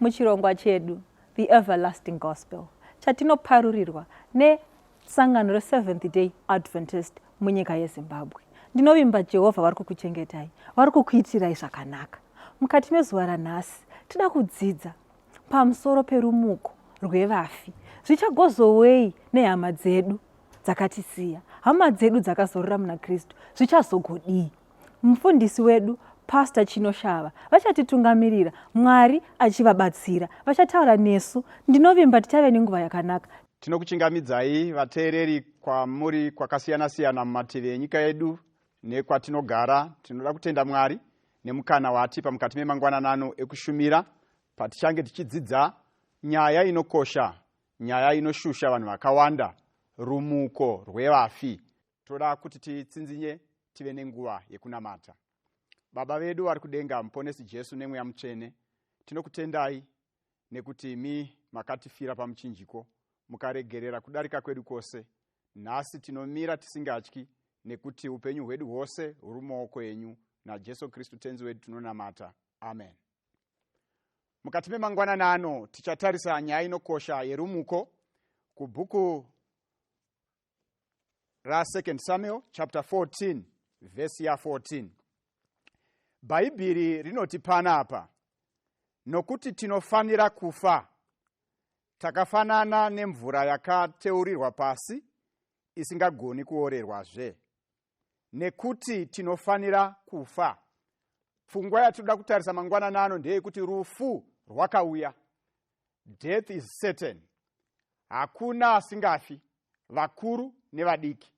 muchirongwa chedu the everlasting gospel chatinoparurirwa nesangano reseventh day adventist munyika yezimbabwe ndinovimba jehovha vari kukuchengetai vari kukuitirai zvakanaka mukati mezuva ranhasi tida kudzidza pamusoro perumuko rwevafi zvichagozowei nehama dzedu dzakatisiya hama dzedu dzakazorora muna kristu zvichazogodii Mufundisi wedu Pastor Chinoshava vachatitungamirira Mwari achivabatsira. Vachataura nesu. Ndinovimba tichave nenguva yakanaka. Tinokuchingamidzai vateereri kwamuri kwakasiyana siyana mumativi enyika yedu nekwatinogara. Tinoda kutenda Mwari nemukana waatipa mukati memangwananano ekushumira patichange tichidzidza nyaya inokosha, nyaya inoshusha vanhu vakawanda, rumuko rwevafi. toda kuti titsinzinye tive nenguva yekunamata baba vedu vari kudenga muponesi jesu nemweya mutsvene tinokutendai nekuti mi makatifira pamuchinjiko mukaregerera kudarika kwedu kwose nhasi tinomira tisingatyi nekuti upenyu hwedu hwose huri mumaoko enyu najesu kristu tenzi wedu tinonamata amen mukati memangwanani ano tichatarisa nyaya inokosha yerumuko kubhuku rasecond samuel chapter 14 vhesi ya 14 bhaibheri rinoti panapa nokuti tinofanira kufa takafanana nemvura yakateurirwa pasi isingagoni kuorerwazve nekuti tinofanira kufa pfungwa yatinoda kutarisa mangwanani ano ndeyekuti rufu rwakauya death is certain hakuna asingafi vakuru nevadiki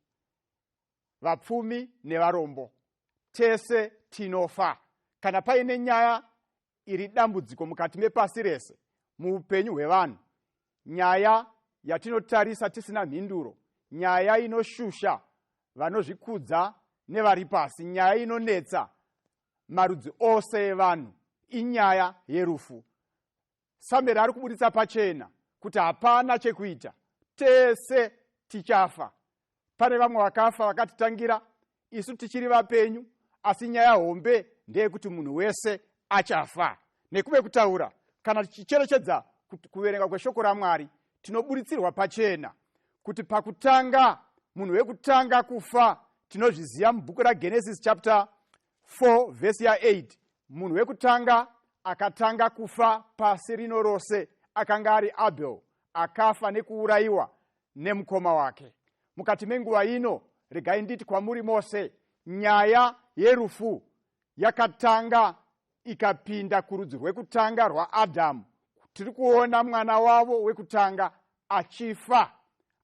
vapfumi nevarombo tese tinofa kana paine nyaya iri dambudziko mukati mepasi rese muupenyu hwevanhu nyaya yatinotarisa tisina mhinduro nyaya inoshusha vanozvikudza nevari pasi nyaya inonetsa marudzi ose evanhu inyaya yerufu samere ari kuburitsa pachena kuti hapana chekuita tese tichafa pane vamwe vakafa vakatitangira isu tichiri vapenyu asi nyaya hombe ndeyekuti munhu wese achafa nekuve kutaura kana tichicherechedza kuverenga kweshoko ramwari tinoburitsirwa pachena kuti pakutanga munhu wekutanga kufa tinozviziva mubhuku ragenesis chapter 4 vhesi ya8 munhu wekutanga akatanga kufa pasi rino rose akanga ari abel akafa nekuurayiwa nemukoma wake mukati menguva ino regai nditi kwamuri mose nyaya yerufu yakatanga ikapinda kurudzi rwekutanga rwaadhamu tiri kuona mwana wavo wekutanga achifa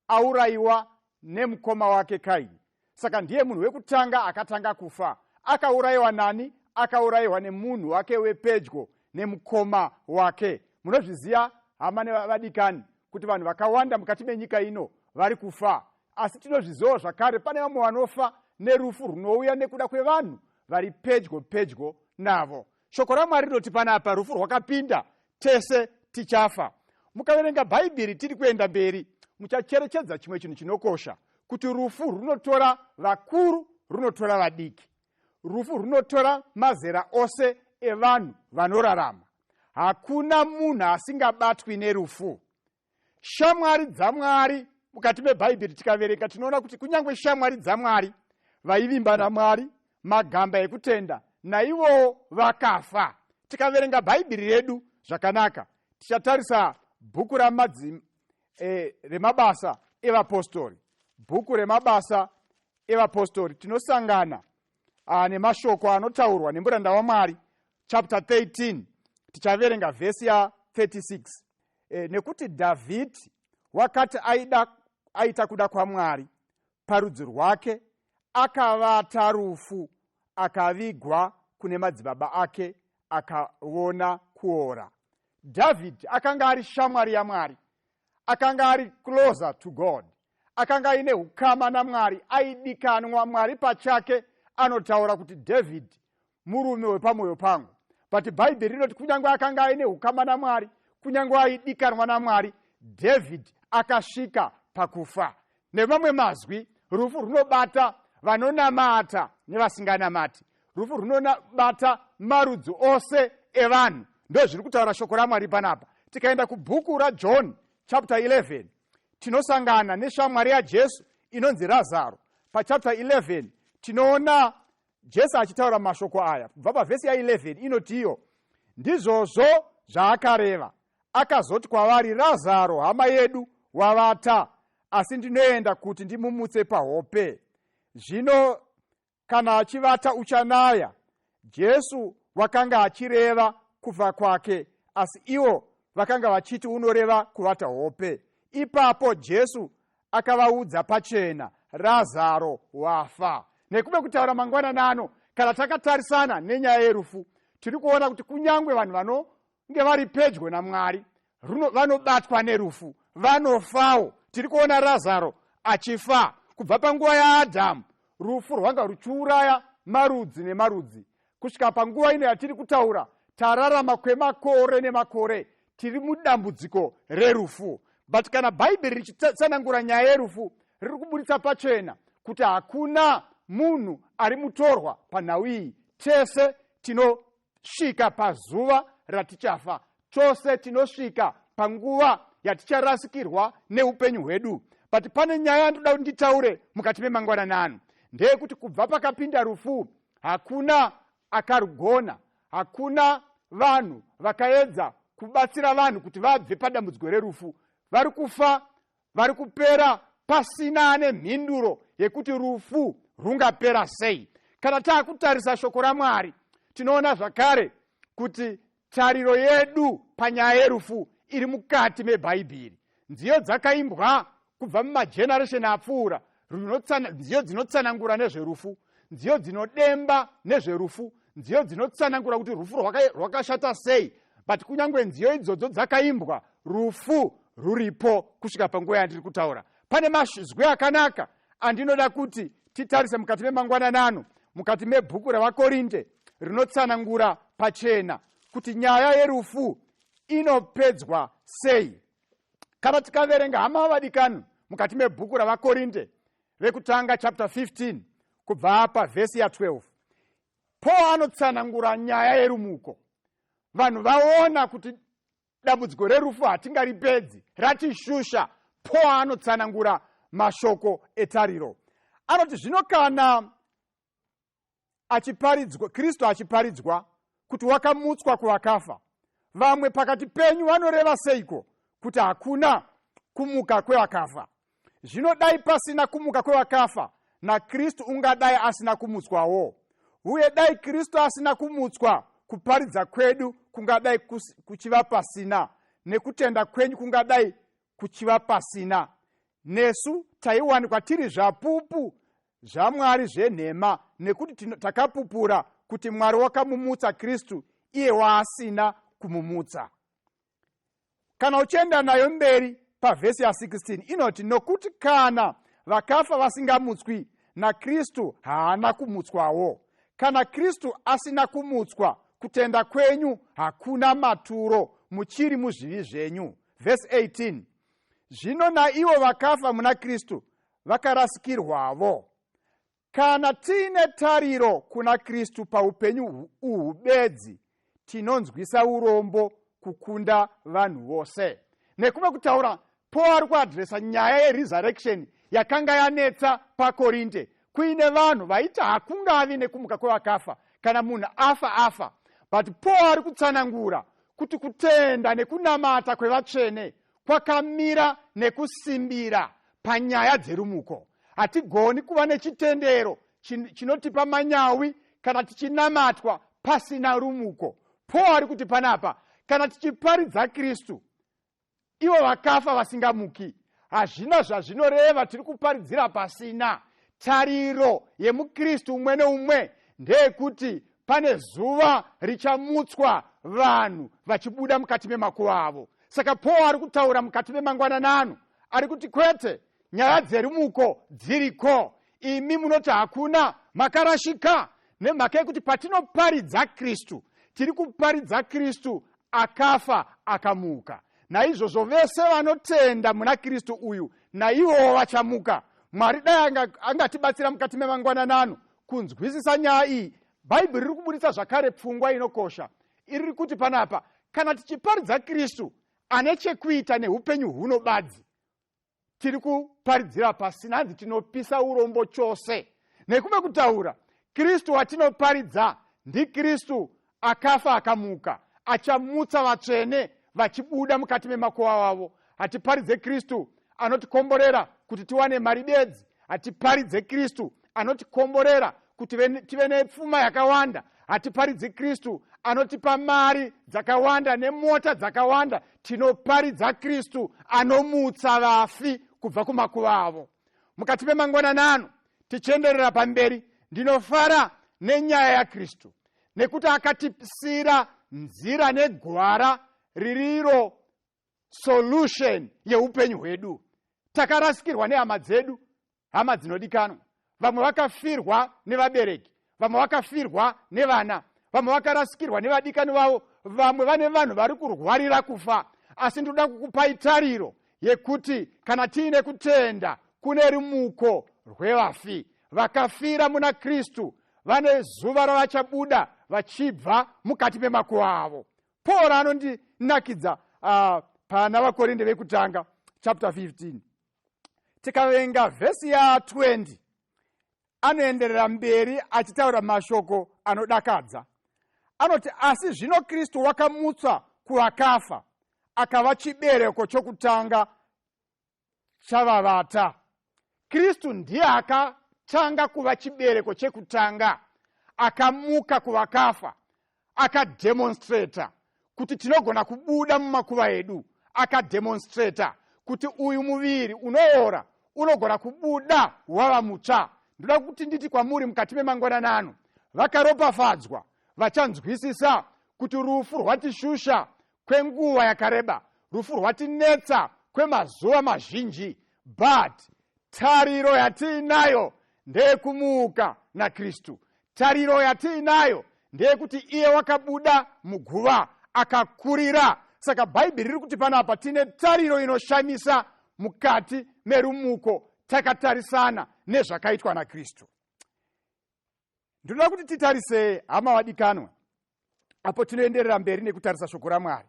aurayiwa nemukoma wake kaini saka ndiye munhu wekutanga akatanga kufa akaurayiwa nani akaurayiwa nemunhu wake wepedyo nemukoma wake munozviziva hama nevadikani kuti vanhu vakawanda mukati menyika ino vari kufa asi tinozvizivawo zvakare pane vamwe vanofa nerufu runouya nekuda kwevanhu vari pedyo pedyo navo shoko ramwari rinoti panapa rufu rwakapinda tese tichafa mukaverenga bhaibheri tiri kuenda mberi muchacherechedza chimwe chinhu chinokosha kuti rufu runotora vakuru runotora vadiki rufu runotora mazera ose evanhu vanorarama hakuna munhu asingabatwi nerufu shamwari dzamwari mukati mebhaibheri tikaverenga tinoona kuti kunyange shamwari dzamwari vaivimba namwari magamba ekutenda naivowo vakafa tikaverenga bhaibheri redu zvakanaka tichatarisa bhuku ramadzi e, remabasa evapostori bhuku remabasa evapostori tinosangana ah, nemashoko anotaurwa nemuranda wamwari chapter 13 tichaverenga vhesi ya 36 e, nekuti dhavhidhi wakati aida aita kuda kwamwari parudzi rwake akavata rufu akavigwa kune madzibaba ake akaona kuora dhavhidhi akanga ari shamwari yamwari akanga ari closer to god akanga aine ukama namwari aidikanwa mwari pachake anotaura kuti dhavhidhi murume wepamwoyo pangu but bhaibheri rinoti kunyange akanga aine ukama namwari kunyange aidikanwa namwari david akasvika pakufa nemamwe mazwi rufu runobata vanonamata nevasinganamati rufu runobata marudzi ose evanhu ndozviri kutaura shoko ramwari panapa tikaenda kubhuku rajohn chapter 11 tinosangana neshamwari yajesu inonzi razaro pachapter 11 tinoona jesu achitaura mashoko aya kubva pavhesi ya 11 inotiyo ndizvozvo zvaakareva akazoti kwavari razaro hama yedu wavata asi ndinoenda kuti ndimumutse pahope zvino kana achivata uchanaya jesu wakanga achireva kufa kwake asi iwo vakanga vachiti unoreva kuvata hope ipapo jesu akavaudza pachena razaro wafa nekuve kutaura mangwanani ano kana takatarisana nenyaya yerufu tiri kuona kuti kunyange vanhu vanonge vari pedyo namwari vanobatwa nerufu vanofawo tiri kuona razaro achifa kubva panguva yaadhamu rufu rwanga ruchiuraya marudzi nemarudzi kusvika panguva ino yatiri kutaura tararama kwemakore nemakore tiri mudambudziko rerufu but kana bhaibheri richitsanangura nyaya yerufu riri kuburitsa pachena kuti hakuna munhu ari mutorwa panhau iyi tese tinosvika pazuva ratichafa Tose tinosvika panguva yaticharasikirwa neupenyu hwedu but pane nyaya yandoda kuti nditaure mukati memangwanani ano ndeyekuti kubva pakapinda rufu hakuna akarugona hakuna vanhu vakaedza kubatsira vanhu kuti vabve padambudziko rerufu vari kufa vari kupera pasina ane mhinduro yekuti rufu rungapera sei kana taakutarisa shoko ramwari tinoona zvakare kuti tariro yedu panyaya yerufu iri mukati mebhaibheri nziyo dzakaimbwa kubva mumageneresheni apfuura nziyo dzinotsanangura nezverufu nziyo dzinodemba nezverufu nziyo dzinotsanangura kuti rufu rwakashata sei but kunyange nziyo idzodzo dzakaimbwa rufu ruripo kusvika panguva yandiri kutaura pane mazwi akanaka andinoda kuti titarise mukati memangwananano mukati mebhuku revakorinde rinotsanangura pachena kuti nyaya yerufu inopedzwa sei kana tikaverenga hama vadikani mukati mebhuku ravakorinde vekutanga chapter 15 kubva pavhesi ya12 paul anotsanangura nyaya yerumuko vanhu vaona kuti dambudziko rerufu hatingaripedzi ratishusha paul anotsanangura mashoko etariro anoti zvino kana achiparidzwa kristu achiparidzwa kuti wakamutswa kuvakafa vamwe pakati penyu vanoreva seiko kuti hakuna kumuka kwevakafa zvino dai pasina kumuka kwevakafa nakristu ungadai asina kumutswawo uye dai kristu asina kumutswa kuparidza kwedu kungadai kuchiva pasina nekutenda kwenyu kungadai kuchiva pasina nesu taiwanikwa tiri zvapupu zvamwari zvenhema nekuti takapupura kuti mwari wakamumutsa kristu iye waasina kumumutsa kana uchienda nayo mberi pavhesi ya16 inoti nokuti kana vakafa vasingamutswi nakristu haana kumutswawo kana kristu asina kumutswa kutenda kwenyu hakuna maturo muchiri muzvivi zvenyu vhesi 18 zvino naivo vakafa muna kristu vakarasikirwavo kana tiine tariro kuna kristu paupenyu uhu bedzi tinonzwisa urombo kukunda vanhu vose nekuve kutaura paul ari kuadresa nyaya yeresurrection yakanga yanetsa pakorinde kuine vanhu vaiti hakungavi nekumuka kwevakafa kana munhu afa afa but paul ari kutsanangura kuti kutenda nekunamata kwevatsvene kwakamira nekusimbira panyaya dzerumuko hatigoni kuva nechitendero chinotipa manyawi kana tichinamatwa pasina rumuko paul ari kuti panapa kana tichiparidza kristu ivo vakafa vasingamuki hazvina zvazvinoreva tiri kuparidzira pasina tariro yemukristu umwe neumwe ndeyekuti pane zuva richamutswa vanhu vachibuda mukati memakuva avo saka paul ari kutaura mukati memangwananano ari kuti kwete nyaya dzerumuko dziriko imi munoti hakuna makarashika nemhaka yekuti patinoparidza kristu tiri kuparidza kristu akafa akamuka naizvozvo vese vanotenda muna kristu uyu naivowo vachamuka mwari dai angatibatsira anga mukati memangwananano kunzwisisa nyaya iyi bhaibheri riri kuburitsa zvakare pfungwa inokosha iriri kuti panapa kana tichiparidza kristu ane chekuita neupenyu huno badzi tiri kuparidzira pasina hanzi tinopisa urombo chose nekumwe kutaura kristu watinoparidza ndikristu akafa akamuka achamutsa vatsvene vachibuda mukati memakowa wavo hatiparidze kristu anotikomborera kuti tiwane mari bedzi hatiparidze kristu anotikomborera kuti tive nepfuma yakawanda hatiparidzi kristu anotipa mari dzakawanda nemota dzakawanda tinoparidza kristu anomutsa vafi kubva kumakuva avo mukati memangwananano tichienderera pamberi ndinofara nenyaya yakristu nekuti akatipisira nzira negwara ririro solution yeupenyu hwedu takarasikirwa nehama dzedu hama dzinodikanwa vamwe vakafirwa nevabereki vamwe vakafirwa nevana vamwe vakarasikirwa nevadikani vavo vamwe vane vanhu vari kurwarira kufa asi ndinoda kukupai tariro yekuti kana tiine kutenda kune rumuko rwevafi vakafira muna kristu vane zuva ravachabuda vachibva mukati memakuva avo paul anondinakidza uh, pana vakorinde vekutanga chapter 15 tikaverenga vhesi ya 20 anoenderera mberi achitaura mashoko anodakadza anoti asi zvino kristu wakamutswa kuvakafa akava chibereko chokutanga chavavata kristu ndiye akatanga kuva chibereko chekutanga akamuka kuvakafa akademonstrata kuti tinogona kubuda mumakuva edu akademonstrata kuti uyu muviri unoora unogona kubuda wava mutsva ndoda kuti nditi kwamuri mukati memangwananano vakaropafadzwa vachanzwisisa kuti rufu rwatishusha kwenguva yakareba rufu rwatinetsa kwemazuva mazhinji but tariro yatiinayo ndeyekumuka nakristu tariro yatiinayo ndeyekuti iye wakabuda muguva akakurira saka bhaibheri riri kuti panapa tine tariro inoshamisa mukati merumuko takatarisana nezvakaitwa nakristu ndinoda kuti titarise hama vadikanwa apo tinoenderera mberi nekutarisa shoko ramwari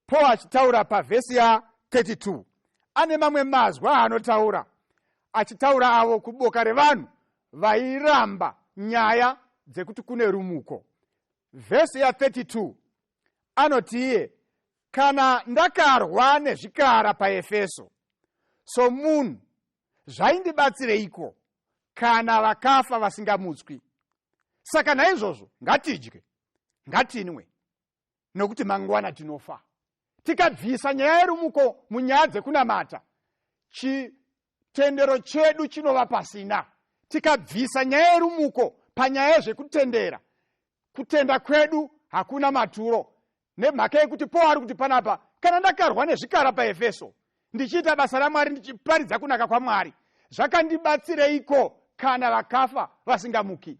paul achitaura pavhesi ya 32 ane mamwe mazwi aanotaura achitaura avo kuboka revanhu vairamba nyaya dzekuti kune rumuko vhesi ya 32 anoti iye kana ndakarwa nezvikara paefeso somunhu zvaindibatsireiko kana vakafa vasingamutswi saka naizvozvo ngatidye ngatinwe nokuti mangwana tinofa tikabvisa nyaya yerumuko munyaya dzekunamata chitendero chedu chinova pasina tikabvisa nyaya yerumuko panyaya yezvekutendera kutenda kwedu hakuna maturo Nemhaka yekuti Paul ari kuti panapa, kana ndakarwa nezvikara paEfeso, ndichiita basa raMwari ndichiparidza kunaka kwaMwari, zvakandibatsireiko kana vakafa vasingamuki?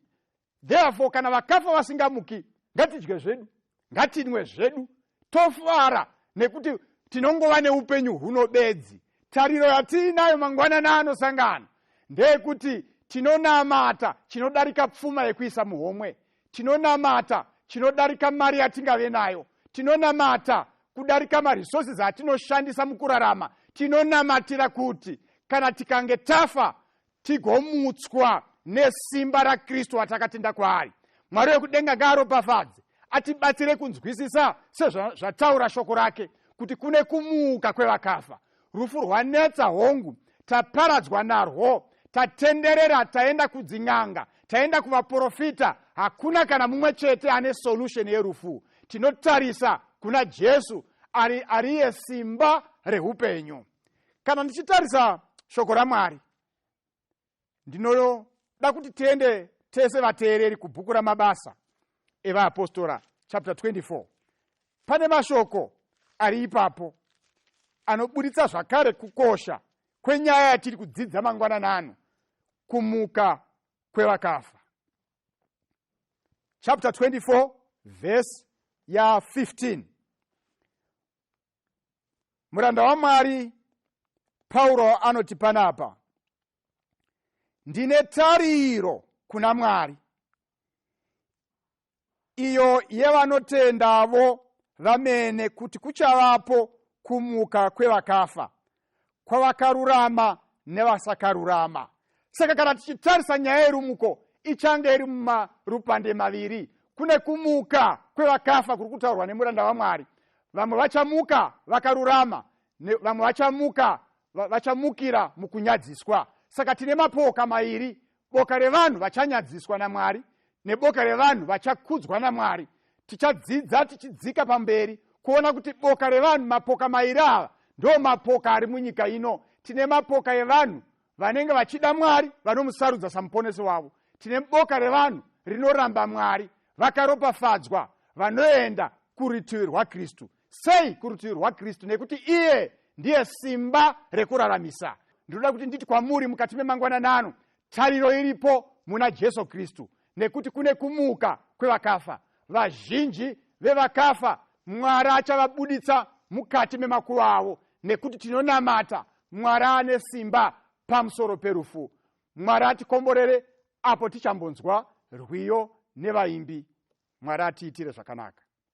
Therefore, kana vakafa vasingamuki, ngatidye zvedu, ngatinwe zvedu, tofara nekuti tinongova neupenyu huno bedzi tariro yatiinayo mangwanana anosangana ndeyekuti tinonamata chinodarika pfuma yekuisa muhomwe tinonamata chinodarika mari yatingave nayo tinonamata kudarika maresources atinoshandisa mukurarama tinonamatira kuti kana tikange tafa tigomutswa nesimba rakristu atakatenda kwaari mwari wekudenga ngaaropafadze atibatsire kunzwisisa sezvataura shoko rake kuti kune kumuka kwevakafa rufu rwanetsa hongu taparadzwa narwo tatenderera taenda kudzin'anga taenda kuvaprofita hakuna kana mumwe chete ane solution yerufu tinotarisa kuna jesu ari ariye simba reupenyu kana ndichitarisa shoko ramwari ndinoda kuti tiende tese vateereri kubhuku ramabasa evaapostora chapter 24 pane mashoko ari ipapo anoburitsa zvakare kukosha kwenyaya yatiri kudzidza mangwanana ano kumuka kwevakafa chapter 24 verse ya 15 muranda wamwari pauro anoti panapa ndine tariro kuna mwari iyo yevanotendavo vamene kuti kuchavapo kumuka kwevakafa kwavakarurama nevasakarurama saka kana tichitarisa nyaya yerumuko ichange iri mumarupande maviri kune kumuka kwevakafa kuri kutaurwa nemuranda vamwari vamwe vachamuka vakarurama vamwe vachamuka vachamukira mukunyadziswa saka tine mapoka mairi boka revanhu vachanyadziswa namwari neboka revanhu vachakudzwa namwari tichadzidza tichidzika pamberi kuona kuti boka revanhu mapoka mairi ava ndo mapoka ari munyika ino tine mapoka evanhu vanenge vachida mwari vanomusarudza samuponesi wavo tine boka revanhu rinoramba mwari vakaropafadzwa vanoenda kurutivi rwakristu sei kurutivi rwakristu nekuti iye ndiye simba rekuraramisa ndinoda kuti nditi kwamuri mukati memangwanana ano tariro iripo muna jesu kristu nekuti kune kumuka kwevakafa vazhinji vevakafa mwari achavabuditsa mukati memakuva avo nekuti tinonamata mwari ane simba pamusoro perufu mwari atikomborere apo tichambonzwa rwiyo nevaimbi mwari atiitire zvakanaka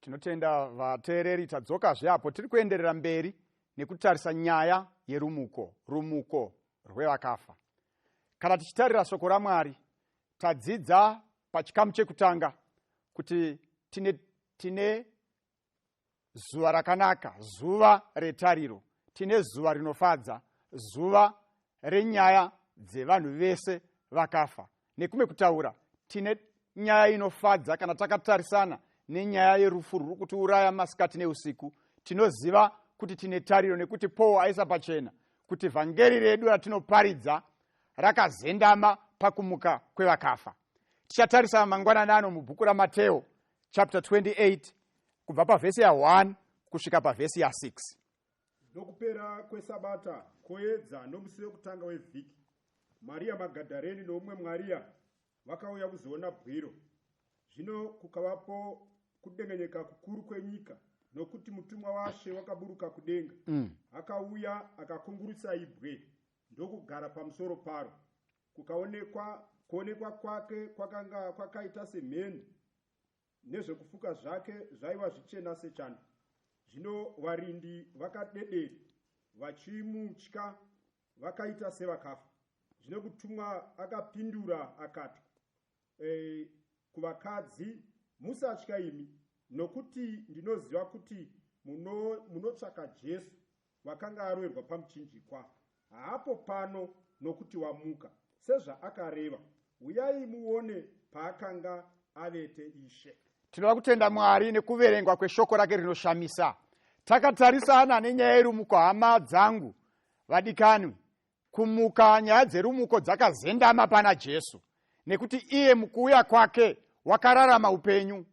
tinotenda vateereri tadzokazve apo tiri kuenderera mberi nekutarisa nyaya yerumuko rumuko rwevakafa kana tichitarira shoko ramwari tadzidza pachikamu chekutanga kuti tine, tine zuva rakanaka zuva retariro tine zuva rinofadza zuva renyaya dzevanhu vese vakafa nekumwe kutaura tine nyaya inofadza kana takatarisana nenyaya yerufu ruri kutiuraya masikati neusiku tinoziva kuti tine tariro nekuti paul aisa pachena kuti vhangeri redu ratinoparidza rakazendama pakumuka kwevakafa tichatarisa mangwanani ano mubhuku ramateo chapter 28 kubva pavhesi ya1 kusvika pavhesi ya6 Nokupera kwesabata koedza nomusi wekutanga wevhiki, Mariya Magadhareni noumwe Mwariya vakauya kuzoona bwiro. Zvino kukavapo kudengenyeka kukuru kwenyika nokuti mutumwa washe wakaburuka kudenga mm. akauya akakungurutsa ibwe ndokugara pamusoro paro kukaonekwa kuonekwa kwake kwakanga kwakaita semheni nezvekufuka zvake zvaiva zvichena sechando. Zvino varindi vakadedera vachimutya vakaita sevakafa. Zvino kutumwa akapindura akati e, kuvakadzi, musatya imi, nokuti ndinoziva kuti munotsvaka muno Jesu wakanga aroerwa pamuchinjikwa haapo pano nokuti wamuka sezvaakareva huyai muone paakanga avete ishe tinoda kutenda mwari nekuverengwa kweshoko rake rinoshamisa takatarisana nenyaya yerumuko hama dzangu vadikanwi kumuka nyaya dzerumuko dzakazendama pana jesu nekuti iye mukuuya kwake wakararama upenyu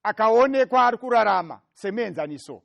akaonekwa ari kurarama semuenzaniso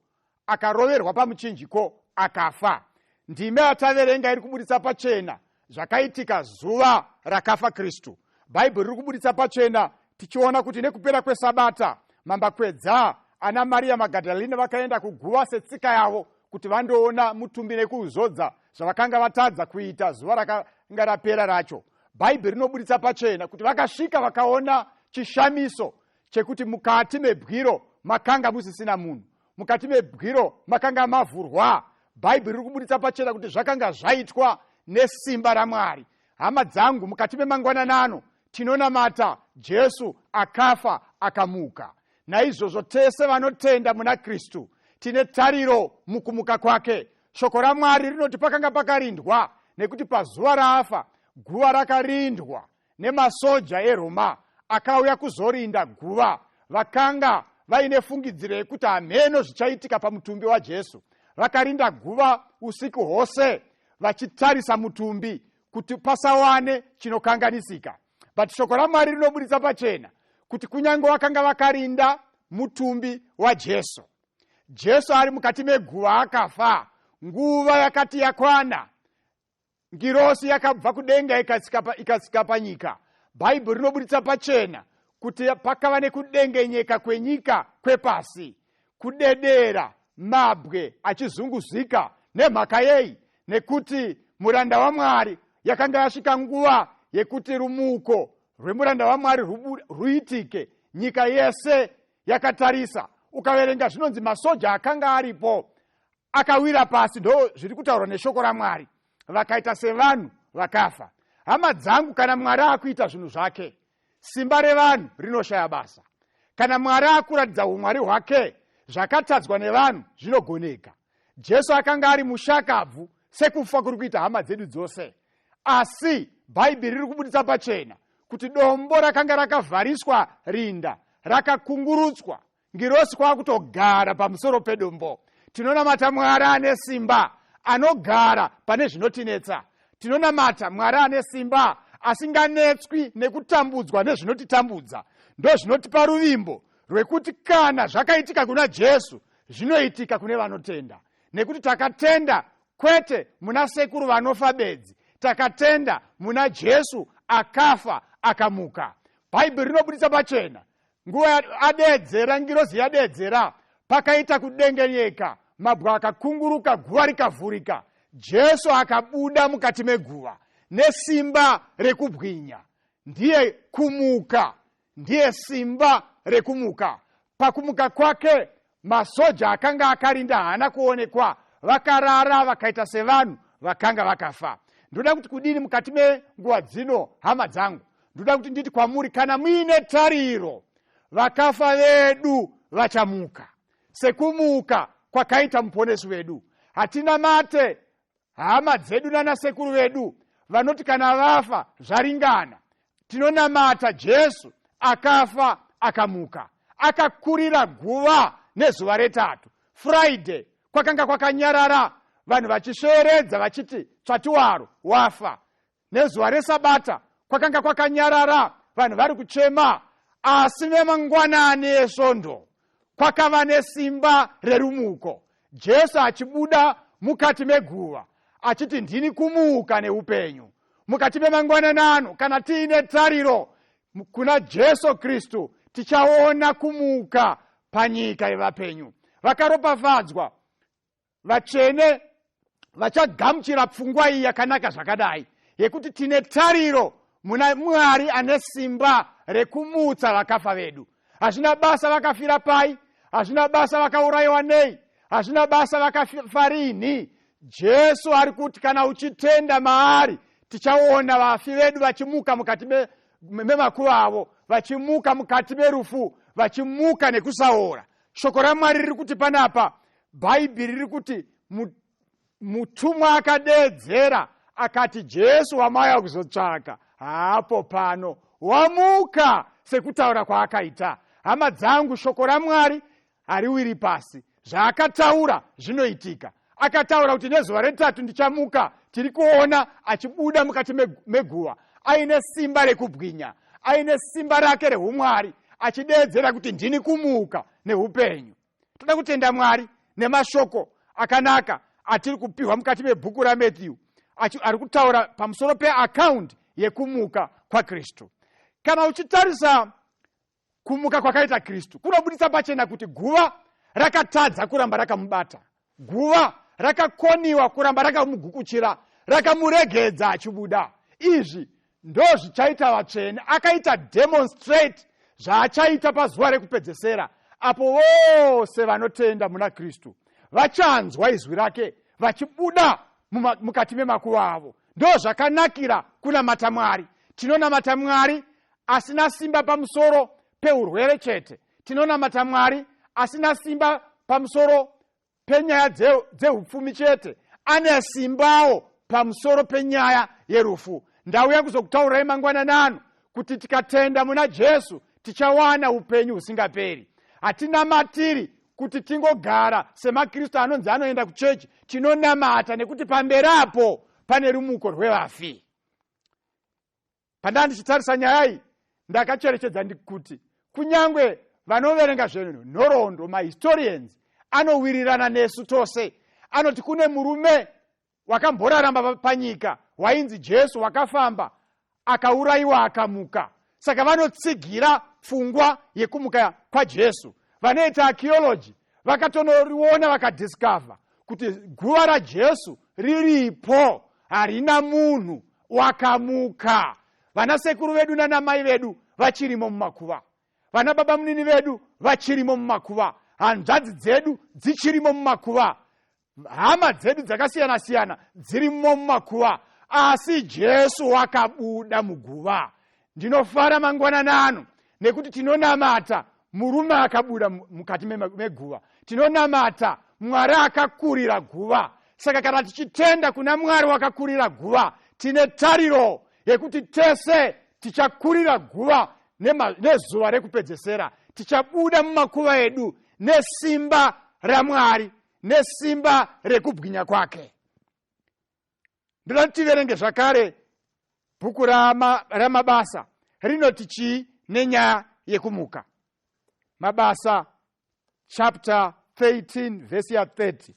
akaroverwa pamuchinjiko akafa ndime yataverenga iri kuburitsa pachena zvakaitika zuva rakafa kristu bhaibheri riri kuburitsa pachena tichiona kuti nekupera kwesabata mambakwedza ana mariya magadalina vakaenda kuguva setsika yavo kuti vandoona mutumbi nekuuzodza zvavakanga vatadza kuita zuva rakanga rapera racho bhaibheri rinoburitsa pachena kuti vakasvika vakaona chishamiso chekuti mukati mebwiro makanga musisina munhu mukati mebwiro makanga mavhurwa bhaibheri riri kuburitsa pachena kuti zvakanga zvaitwa nesimba ramwari hama dzangu mukati memangwananano tinonamata jesu akafa akamuka naizvozvo tese vanotenda muna kristu tine tariro mukumuka kwake Shoko raMwari rinoti pakanga pakarindwa nekuti pazuva raafa guva rakarindwa nemasoja eRoma akauya kuzorinda guva. Vakanga vaine fungidziro yekuti hameno zvichaitika pamutumbi waJesu. Vakarinda guva usiku hwose vachitarisa mutumbi kuti pasawane chinokanganisika. But shoko raMwari rinoburitsa pachena kuti kunyange vakanga vakarinda mutumbi waJesu, jesu ari mukati meguva akafa nguva yakati yakwana ngirosi yakabva kudenga ikasika panyika bhaibheri rinoburitsa pachena kuti pakava nekudengenyeka kwenyika kwepasi kudedera mabwe achizunguzika nemhaka yei nekuti muranda wamwari yakanga yasvika nguva yekuti rumuko rwemuranda wamwari ruitike nyika yese yakatarisa ukaverenga zvinonzi masoja akanga aripo akawira pasi ndo zviri kutaurwa neshoko ramwari vakaita sevanhu vakafa hama dzangu kana mwari akuita zvinhu zvake simba revanhu rinoshaya basa kana mwari akuratidza umwari hwake zvakatadzwa nevanhu zvinogoneka jesu akanga ari mushakabvu sekufa kuri kuita hama dzedu dzose asi bhaibheri riri kubuditsa pachena kuti dombo rakanga rakavhariswa rinda rakakungurutswa ngirosi kwakutogara pamusoro pedombo tinonamata mwari ane simba anogara pane zvinotinetsa tinonamata mwari ane simba asinganetswi nekutambudzwa nezvinotitambudza ndozvinotipa ruvimbo rwekuti kana zvakaitika kuna jesu zvinoitika kune vanotenda nekuti takatenda kwete muna sekuru vanofa bedzi takatenda muna jesu akafa akamuka bhaibheri rinobudisa pachena nguva adeedzera ngirozi yadeedzera pakaita kudengenyeka mabwa akakunguruka guva rikavhurika jesu akabuda mukati meguva nesimba rekubwinya ndiye kumuka ndiye simba rekumuka pakumuka kwake masoja akanga akarinda haana kuonekwa vakarara vakaita sevanhu vakanga vakafa ndoda kuti kudini mukati menguva dzino hama dzangu ndoda kuti nditi kwamuri kana muine tariro vakafa vedu vachamuka sekumuka kwakaita muponesi wedu hatina mate hama dzedu nanasekuru vedu vanoti kana vafa zvaringana tinonamata jesu akafa akamuka akakurira guva nezuva retatu friday kwakanga kwakanyarara vanhu vachisveeredza vachiti tsvatiwaro wafa Nezuva reSabata kwakanga kwakanyarara, vanhu vari kuchema, asi nemangwanani eSvondo kwakava nesimba rerumuko, Jesu achibuda mukati meguva achiti, Ndini kumuka neupenyu. Mukati memangwanani ano, kana tiine tariro kuna Jesu Kristu, tichaona kumuka panyika yevapenyu. Vakaropafadzwa vatsvene vachagamuchira pfungwa iyi yakanaka zvakadai yekuti tine tariro muna mwari ane simba rekumutsa vakafa vedu hazvina basa vakafira pai hazvina basa vakaurayiwa nei hazvina basa vakafa rinhi jesu ari kuti kana uchitenda maari tichaona vafi vedu vachimuka mukati memakuva avo vachimuka mukati merufu vachimuka nekusaora shoko ramwari riri kuti panapa bhaibheri riri kuti mutumwa akadeedzera akati jesu wamaya kuzotsvaka haapo pano wamuka sekutaura kwaakaita hama dzangu shoko ramwari hariwiri pasi zvaakataura zvinoitika akataura kuti nezuva retatu ndichamuka tiri kuona achibuda mukati meguva aine simba rekubwinya aine simba rake reumwari achideedzera kuti ndini kumuka neupenyu toda kutenda mwari nemashoko akanaka atiri kupiwa mukati mebhuku ramatthew ari kutaura pamusoro peakaundi yekumuka kwakristu kana uchitarisa kumuka kwakaita kristu kunobuditsa pachena kuti guva rakatadza kuramba rakamubata guva rakakoniwa kuramba rakamugukuchira rakamuregedza achibuda izvi ndozvichaita vatsvene akaita demonstrate zvaachaita pazuva rekupedzesera apo vose vanotenda muna kristu vachanzwa izwi rake vachibuda mukati memakuva avo ndo zvakanakira kunamata mwari tinonamata mwari asina simba pamusoro peurwere chete tinonamata mwari asina simba pamusoro penyaya dzeupfumi chete ane simbawo pamusoro penyaya yerufu ndauya kuzokutaurai mangwananano kuti tikatenda muna jesu tichawana upenyu husingaperi hatinamatiri kuti tingogara semakristu anonzi anoenda kuchechi tinonamata nekuti pamberi apo pane rumuko rwevafi Pandanga ndichitarisa nyaya iyi, ndakacherechedza ndikuti kunyange vanoverenga zvenhoroondo, mahistorians, anowirirana nesu tose. Anoti kune murume wakamboraramba panyika wainzi Jesu wakafamba akaurayiwa akamuka. Saka vanotsigira pfungwa yekumuka kwaJesu. Vanoita archaeology vakatonoriona vakadiscover kuti guva raJesu riripo harina munhu wakamuka vana sekuru vedu nana mai vedu vachirimo mumakuva vana baba munini vedu vachirimo mumakuva hanzvadzi dzedu dzichirimo mumakuva hama dzedu dzakasiyana siyana dzirimo mumakuva asi jesu wakabuda muguva ndinofara mangwanana ano nekuti tinonamata murume akabuda mukati meguva tinonamata mwari akakurira guva saka kana tichitenda kuna mwari wakakurira guva tine tariro yekuti tese tichakurira guva nezuva rekupedzesera tichabuda mumakuva edu nesimba ramwari nesimba rekubwinya kwake ndoda kuti tiverenge zvakare bhuku ramabasa rama rinoti chii nenyaya yekumuka mabasa chapter 13 vhesi ya 30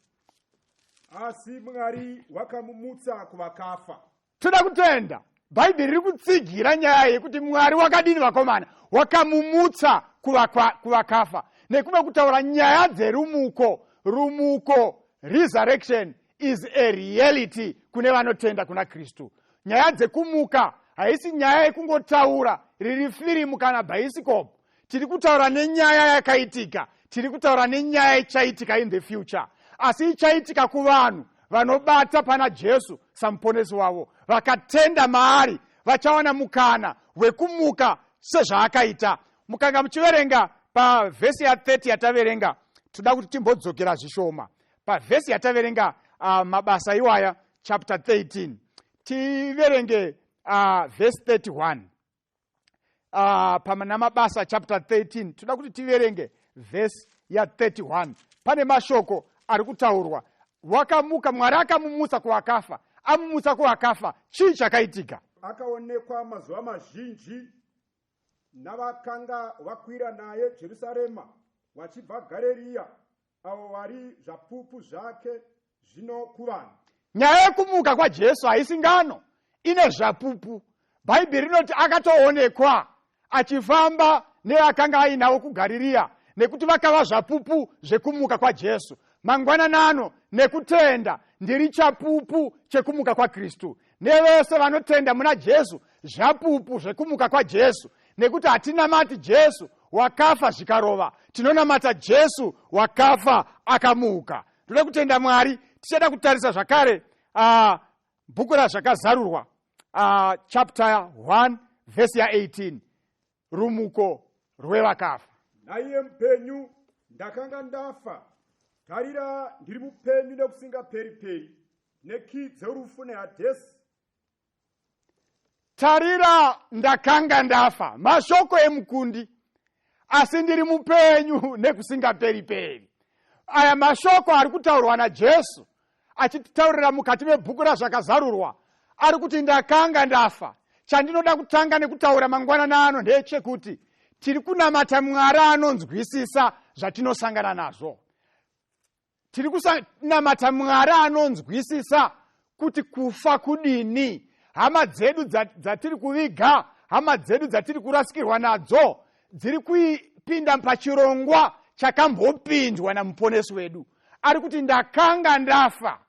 asi mwari wakamumutsa kuvakafa toda kutenda bhaibheri riri kutsigira nyaya yekuti mwari wakadini vakomana wakamumutsa kuvakafa nekuva kutaura nyaya dzerumuko rumuko resurrection is a reality kune vanotenda kuna kristu nyaya dzekumuka haisi nyaya yekungotaura riri firimu kana bhaisikopu tiri kutaura nenyaya yakaitika tiri kutaura nenyaya ichaitika in the future asi ichaitika kuvanhu vanobata pana jesu samuponesi wavo vakatenda maari vachawana mukana wekumuka sezvaakaita mukanga muchiverenga pavhesi ya30 yataverenga toda kuti timbodzokera zvishoma pavhesi yataverenga uh, mabasa iwaya chapter 13 tiverenge uh, vhesi 31 uh, pamana mabasa chapter 13 toda kuti tiverenge vhesi ya 31 pane mashoko ari kutaurwa wakamuka mwari akamumutsa kuwakafa amumutsa kuwakafa chii chakaitika akaonekwa mazuva mazhinji navakanga vakwira naye jerusarema vachibva gareriya Avo vari zvapupu zvake zvino kuvanhu. Nyaya yekumuka kwaJesu haisi ngano ine zvapupu. Bhaibheri rinoti akatoonekwa achifamba neakanga ainawo kuGariria nekuti vakava zvapupu zvekumuka kwaJesu. Mangwananano nekutenda ndiri chapupu chekumuka kwaKristu. nevese vanotenda muna jesu zvapupu zvekumuka kwajesu nekuti hatinamati jesu wakafa zvikarova tinonamata jesu wakafa akamuka toda kutenda mwari tichada kutarisa zvakare uh, bhuku razvakazarurwa uh, chapter 1 vhesi ya18 rumuko rwevakafa naiye mupenyu ndakanga ndafa tarira ndiri mupenyu nekusingaperi peri nekii dzerufu nehadhesi tarira ndakanga ndafa mashoko emukundi asi ndiri mupenyu nekusingaperi peri aya mashoko ari kutaurwa najesu achititaurira mukati mebhuku razvakazarurwa ari kuti ndakanga ndafa chandinoda kutanga nekutaura mangwanana ano ndechekuti tiri kunamata mwari anonzwisisa zvatinosangana nazvo tiri kunamata mwari anonzwisisa kuti kufa kudini hama dzedu dzatiri kuviga hama dzedu dzatiri kurasikirwa nadzo dziri kuipinda pachirongwa chakambopindwa namuponesi wedu ari kuti ndakanga ndafa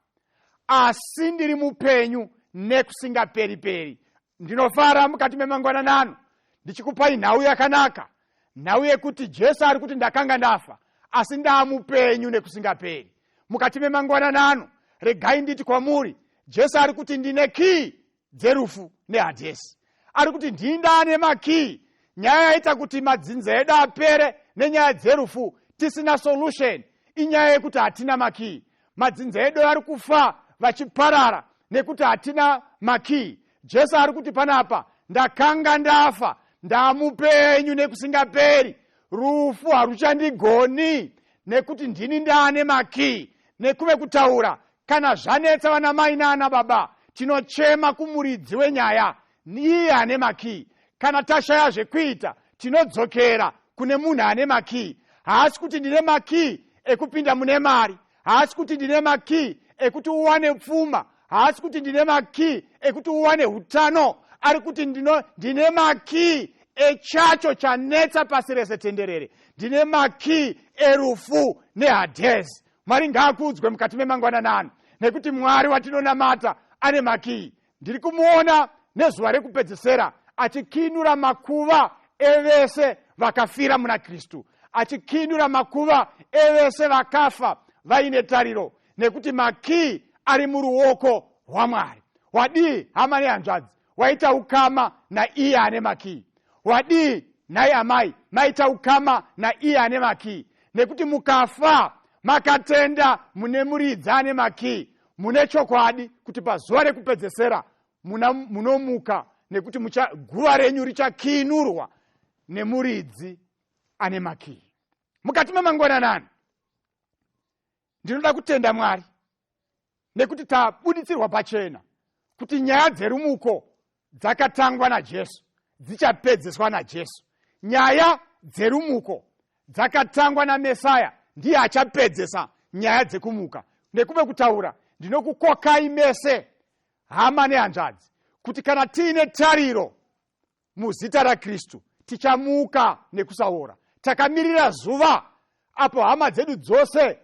asi ndiri mupenyu nekusingaperi peri ndinofara mukati memangwanana ano ndichikupai nhau yakanaka nhau yekuti jesu ari kuti ndakanga ndafa asi ndaamupenyu nekusingaperi mukati memangwanana ano regai nditi kwamuri jesu ari kuti ndine kii dzerufu nehadhesi ari kuti ndindane makii nyaya yaita kuti madzinza edu apere nenyaya dzerufu tisina solution inyaya yekuti hatina makii madzinza edu ari kufa vachiparara nekuti hatina makii jesu ari kuti panapa ndakanga ndafa ndamupenyu nekusingaperi rufu haruchandigoni nekuti ndini ndaane makii nekuve kutaura kana zvanetsa vana mai naana baba tinochema kumuridzi wenyaya iye ane makii kana tashaya zvekuita tinodzokera kune munhu ane makii haasi kuti ndine makii ekupinda mune mari haasi kuti ndine makii ekuti uwane pfuma haasi kuti ndine makii ekuti uwane utano ari kuti ndino ndine makii echacho chanetsa pasi rese tenderere ndine makii erufu nehadhezi Mwari ngaakudzwe mukati memangwanana ano nekuti Mwari watinonamata ane makiyi. Ndiri kumuona nezuva rekupedzesera achikinura makuva evese vakafira muna Kristu, achikinura makuva evese vakafa vaine tariro, nekuti makiyi ari muruoko rwaMwari. Wadii hama nehanzvadzi? waita ukama naiye ane makii wadii nhai amai maita ukama naiye ane makii nekuti mukafa makatenda mune muridzi ane makii mune chokwadi kuti pazuva rekupedzesera munomuka nekuti guva renyu richakiinurwa nemuridzi ane makii mukati memangwananani ndinoda kutenda mwari nekuti tabuditsirwa pachena kuti nyaya dzerumuko dzakatangwa najesu dzichapedzeswa najesu nyaya dzerumuko dzakatangwa namesaya ndiye achapedzesa nyaya dzekumuka nekuve kutaura ndinokukokai mese hama nehanzvadzi kuti kana tiine tariro muzita rakristu tichamuka nekusaora takamirira zuva apo hama dzedu dzose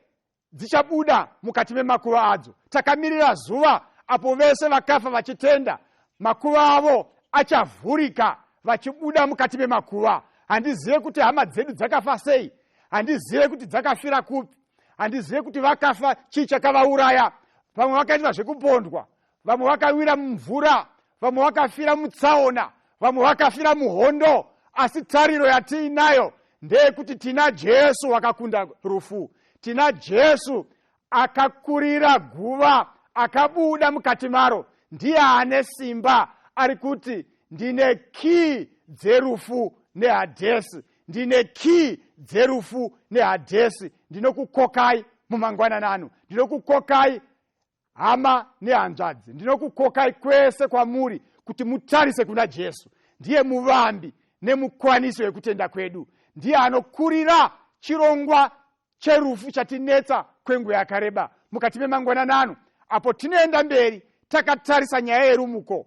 dzichabuda mukati memakuva adzo takamirira zuva apo vese vakafa vachitenda makuva avo achavhurika vachibuda mukati memakuva handizive kuti hama dzedu dzakafa sei handizive kuti dzakafira kupi handizive kuti vakafa chii chakavauraya vamwe vakaitwa zvekupondwa vamwe vakawira mumvura vamwe vakafira mutsaona vamwe vakafira muhondo asi tariro yatiinayo ndeyekuti tina jesu wakakunda rufu tina jesu akakurira guva akabuda mukati maro ndiye ane simba ari kuti ndine kii dzerufu nehadhesi ndine kii dzerufu nehadhesi ndinokukokai mumangwananano ndinokukokai hama nehanzvadzi ndinokukokai kwese kwamuri kuti mutarise kuna jesu ndiye muvambi nemukwaniso yekutenda kwedu ndiye anokurira chirongwa cherufu chatinetsa kwenguva yakareba mukati memangwananano apo tinoenda mberi takatarisa nyaya yerumuko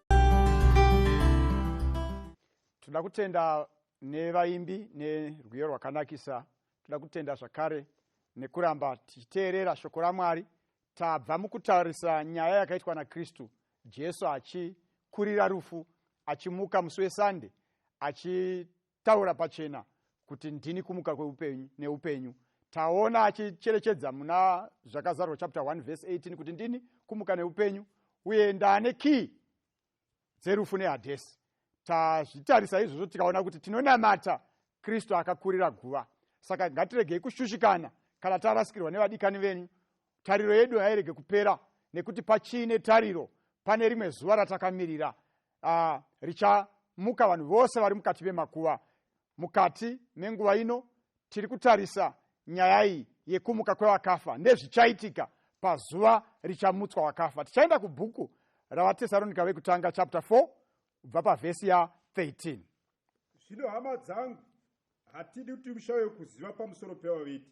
toda kutenda nevaimbi nerwiyo rwakanakisa toda kutenda zvakare nekuramba tichiteerera shoko ramwari tabva mukutarisa nyaya yakaitwa nakristu jesu achikurira rufu achimuka musi wesande achi Taura pachena kuti ndini kumuka kweupenyu neupenyu. Taona achicherechedza muna zvakazarwa chapter 1 verse 18 kuti ndini kumuka neupenyu uye ndaane key dzerufu nehadhesi. Tazvitarisa izvozvo tikaona kuti tinonamata Kristu akakurira guva. Saka ngatiregei kushushikana kana tarasikirwa nevadikani venyu. Tariro yedu hairege kupera nekuti pachine tariro pane rimwe zuva ratakamirira uh, richamuka vanhu vose vari mukati memakuva mukati menguva ino tiri kutarisa nyaya iyi yekumuka kwevakafa ndezvichaitika pazuva richamutswa wakafa tichaenda kubhuku ravatesaronika vekutanga chapter 4 kubva pavhesi ya 13 zvino hama dzangu hatidi kuti mushauye kuziva pamusoro pevaviti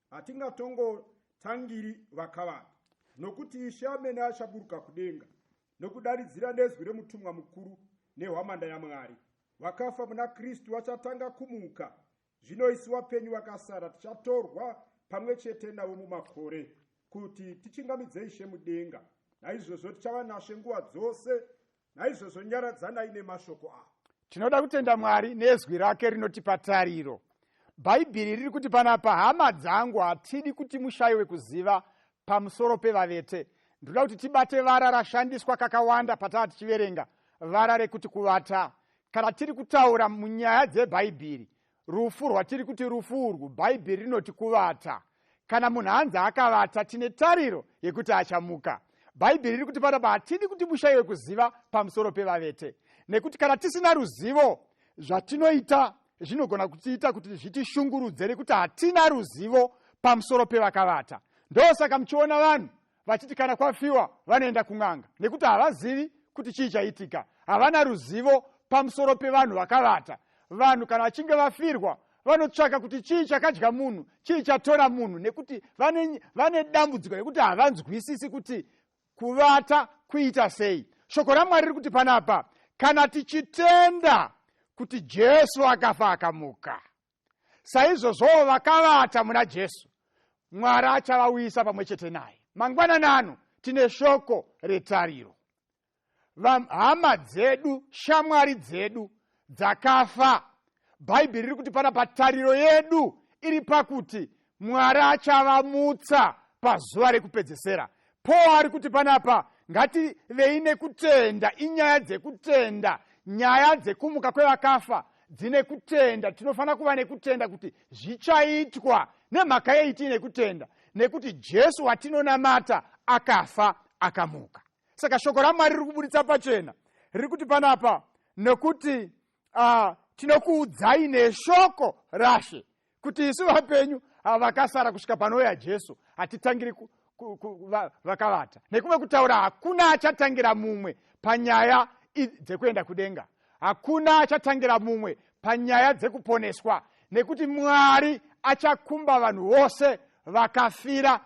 hatingatongotangiri vakavanda nokuti ishe amene achaburuka kudenga nokudaridzira nezwi remutumwa mukuru nehwamanda yamwari vakafa muna kristu vachatanga kumuka zvino isu vapenyu vakasara tichatorwa pamwe chete navo mumakore kuti tichingamidze ishe mudenga naizvozvo tichava nashe nguva dzose naizvozvo nyaradzanai nemashoko avo tinoda kutenda mwari nezwi rake rinotipa tariro bhaibheri riri kuti panapa hama dzangu hatidi kuti mushayiwe kuziva pamusoro pevavete ndinoda kuti tibate vara rashandiswa kakawanda pataa tichiverenga vara rekuti kuvata kana tiri kutaura munyaya dzebhaibheri rufu rwatiri kuti rufu urwu bhaibheri rinoti kuvata kana munhu anzi akavata tine tariro yekuti achamuka bhaibheri riri kuti panapa hatidi kuti mushayiwe kuziva pamusoro pevavete nekuti kana tisina ruzivo zvatinoita zvinogona kutiita kuti zvitishungurudze nekuti hatina ruzivo pamusoro pevakavata ndosaka muchiona vanhu vachiti kana kwafiwa vanoenda kun'anga nekuti havazivi kuti chii chaitika havana ruzivo pamusoro pevanhu vakavata vanhu kana vachinge vafirwa vanotsvaka kuti chii chakadya munhu chii chatora munhu nekuti vane, vane dambudziko rekuti havanzwisisi kuti kuvata kuita sei shoko ramwari riri kuti panapa kana tichitenda kuti jesu akafa akamuka saizvozvowo vakavata muna jesu mwari achavauyisa pamwe chete naye mangwanani ano tine shoko retariro hama dzedu shamwari dzedu dzakafa bhaibheri riri kuti pana patariro yedu iri pakuti mwari achavamutsa pazuva rekupedzesera paul ari kuti panapa ngativei nekutenda inyaya dzekutenda nyaya dzekumuka kwevakafa dzine kutenda tinofanira kuva nekutenda kuti zvichaitwa nemhaka yei tiine kutenda nekuti jesu watinonamata akafa akamuka saka shoko ramwari riri kuburitsa pachena riri kuti panapa nokuti uh, tinokuudzai neshoko rashe kuti isu vapenyu ava vakasara kusvika panouya jesu hatitangiri vakavata nekuve kutaura hakuna achatangira mumwe panyaya dzekuenda kudenga hakuna achatangira mumwe panyaya dzekuponeswa nekuti mwari achakumba vanhu vose vakafira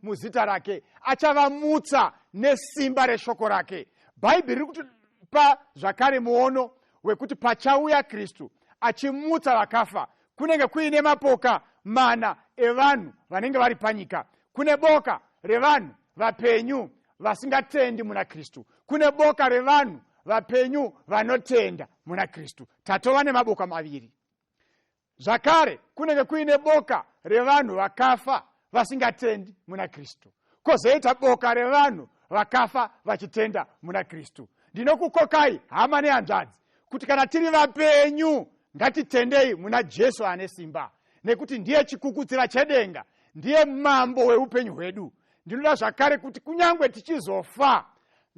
muzita rake achavamutsa nesimba reshoko rake bhaibheri riri kutipa zvakare muono wekuti pachauya kristu achimutsa vakafa kunenge kuine mapoka mana evanhu vanenge vari panyika kune boka revanhu vapenyu vasingatendi muna kristu kune boka revanhu vapenyu vanotenda muna kristu tatova nemaboka maviri zvakare kunenge kuine boka revanhu vakafa vasingatendi muna kristu kozoita boka revanhu vakafa vachitenda muna kristu ndinokukokai hama nehanzvadzi kuti kana tiri vapenyu ngatitendei muna jesu ane simba nekuti ndiye chikukutsira chedenga ndiye mambo weupenyu hwedu ndinoda zvakare kuti kunyange tichizofa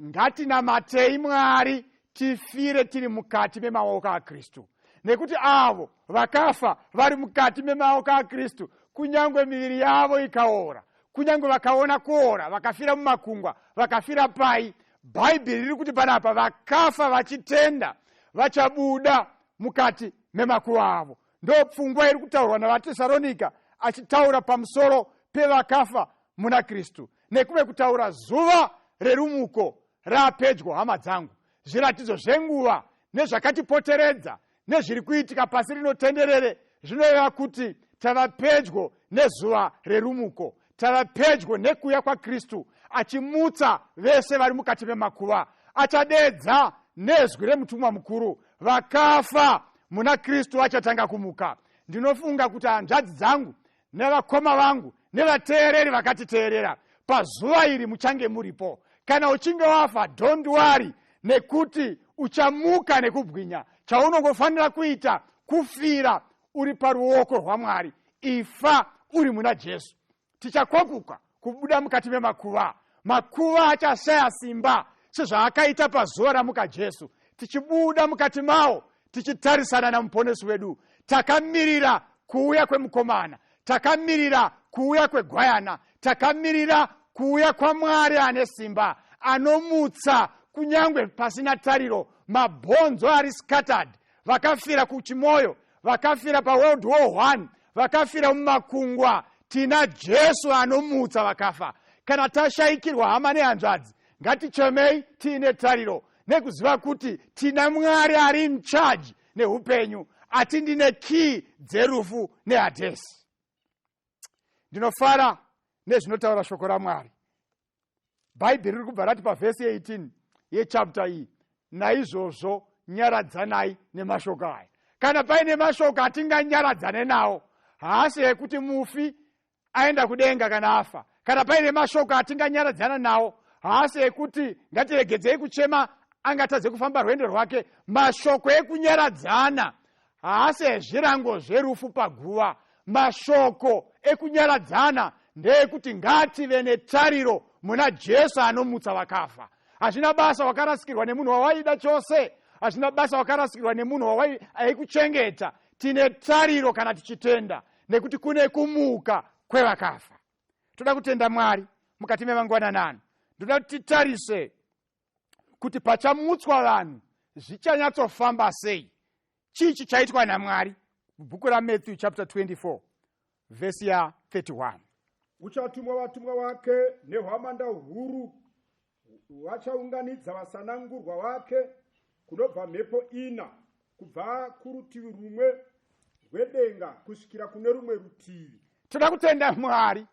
ngatinamatei mwari tifire tiri mukati memaoko akristu nekuti avo vakafa vari mukati memaoko akristu kunyange miviri yavo ikaora kunyange vakaona kuora vakafira mumakungwa vakafira pai bhaibheri riri kuti panapa vakafa vachitenda vachabuda mukati memakuva avo ndo pfungwa iri kutaurwa navatesaronika achitaura pamusoro pevakafa muna kristu nekuve kutaura zuva rerumuko raapedyo hama dzangu zviratidzo zvenguva nezvakatipoteredza nezviri kuitika pasi rino tenderere zvinoreva kuti tava pedyo nezuva rerumuko tava pedyo nekuuya kwakristu achimutsa vese vari mukati memakuva achadeedza nezwi remutumwa mukuru vakafa muna kristu vachatanga kumuka ndinofunga kuti hanzvadzi dzangu nevakoma vangu nevateereri vakatiteerera pazuva iri muchange muripo kana uchinge wafa don't worry nekuti uchamuka nekubwinya chaunongofanira kuita kufira uri paruoko rwamwari ifa uri muna jesu tichakwakuka kubuda mukati memakuva makuva achashaya simba sezvaakaita pazuva ramuka jesu tichibuda mukati mawo tichitarisana namuponesi wedu takamirira kuuya kwemukomana takamirira kuuya kwegwayana takamirira kuuya kwamwari ane simba anomutsa kunyange pasina tariro mabhonzo ari scattered vakafira kuchimoyo vakafira paworld war one vakafira mumakungwa tina jesu anomutsa vakafa kana tashayikirwa hama nehanzvadzi ngatichemei tiine tariro nekuziva kuti tina mwari ari incharge neupenyu ati ndine kii dzerufu nehadhesi ndinofara nezvinotaura shoko ramwari bhaibheri riri kubva rati pavhesi 18 yechapta iyi naizvozvo nyaradzanai nemashoko aya kana paine mashoko atinganyaradzane nawo haasi ekuti mufi aenda kudenga kana afa kana paine mashoko atinganyaradzana nawo haasi ekuti ngatiregedzei kuchema angatadze kufamba rwendo rwake mashoko ekunyaradzana haasi ezvirango zverufu paguva mashoko ekunyaradzana ndeekuti ngaative netariro muna jesu anomutsa vakafa hazvina basa wakarasikirwa nemunhu wawaida chose hazvina basa wakarasikirwa nemunhu wawaikuchengeta tine tariro kana tichitenda nekuti kune kumuka kwevakafa toda kutenda mwari mukati memangwananano ndoda kuti titarise kuti pachamutswa vanhu zvichanyatsofamba sei chii chichaitwa namwari bhuku ramatthew chapter 24 vhesi ya 31 uchatumwa vatumwa wake nehwamanda huru vachaunganidza vasanangurwa vake kunobva mhepo ina kubva kurutivi rumwe rwedenga kusvikira kune rumwe rutivi toda kutenda mwari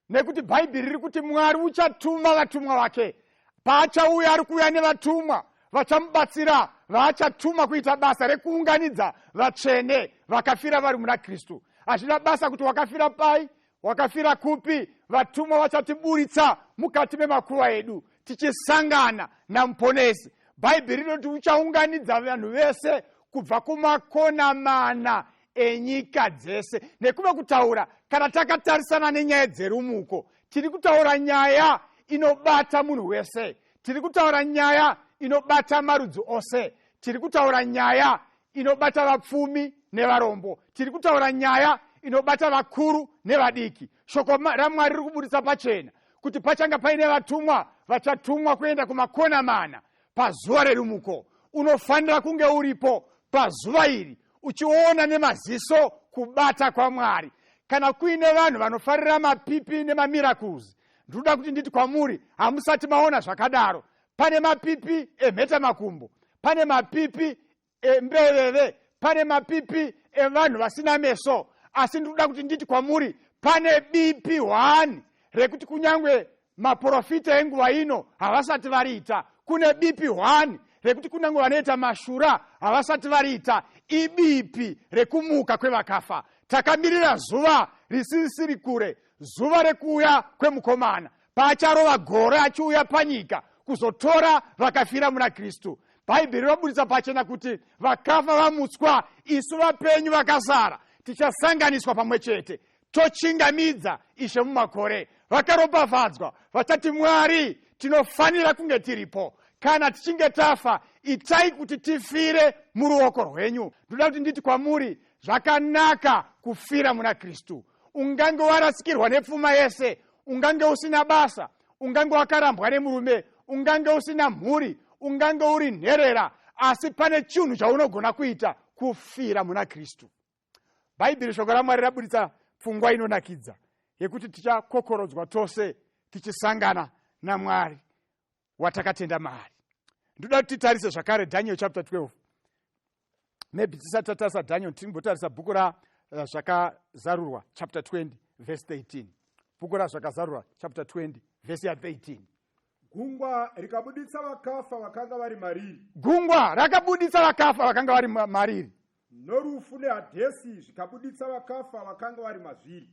nekuti bhaibheri riri kuti mwari uchatuma vatumwa vake paachauya ari kuuya nevatumwa vachamubatsira vaachatuma kuita basa rekuunganidza vatsvene vakafira vari muna kristu hazvina basa kuti wakafira pai wakafira kupi vatumwa vachatiburitsa mukati memakuva edu tichisangana namuponesi bhaibheri rinoti uchaunganidza vanhu vese kubva kumakona mana enyika dzese nekuve kutaura kana takatarisana nenyaya dzerumuko tiri kutaura nyaya inobata munhu wese tiri kutaura nyaya inobata marudzi ose tiri kutaura nyaya inobata vapfumi nevarombo tiri kutaura nyaya inobata vakuru nevadiki shoko ramwari riri kuburitsa pachena kuti pachanga paine vatumwa vachatumwa kuenda kumakona mana pazuva rerumuko unofanira kunge uripo pazuva iri uchiona nemaziso kubata kwamwari kana kuine vanhu vanofarira mapipi nemamirakuzi ndinoda kuti nditi kwamuri hamusati maona zvakadaro pane mapipi emheta makumbo pane mapipi emberere pane mapipi evanhu vasina meso asi ndiri kuda kuti nditi kwamuri pane bipi hwani rekuti kunyange maprofita enguva ino havasati variita kune bipi hwani rekuti kunyange vanoita mashura havasati variita ibipi rekumuka kwevakafa takamirira zuva risisiri kure zuva rekuuya kwemukomana paacharova gore achiuya panyika kuzotora vakafira muna kristu bhaibheri roburitsa pachena kuti vakafa vamutswa isu vapenyu vakasara tichasanganiswa pamwe chete tochingamidza ishe mumakore vakaropafadzwa vachati mwari tinofanira kunge tiripo kana tichinge tafa itai kuti tifire muruoko rwenyu ndoda kuti nditi kwamuri zvakanaka kufira muna kristu ungange warasikirwa nepfuma yese ungange usina basa ungange wakarambwa nemurume ungange usina mhuri ungange uri nherera asi pane chinhu chaunogona kuita kufira muna kristu bhaibheri shoko ramwari raburitsa pfungwa inonakidza yekuti tichakokorodzwa tose tichisangana namwari watakatenda maari ndoda kuti titarise zvakare daniel chapter 12 maybe tisati tatarisa daniel tinombotarisa bhuku razvakazarurwa eh, chapter 20 verse 13 bhuku razvakazarurwa chapter 20 verse ya 13 gungwa rikabuditsa vakafa vakanga vari mariri gungwa rakabuditsa vakafa vakanga vari mariri norufu nehadhesi zvikabuditsa vakafa vakanga vari mazviri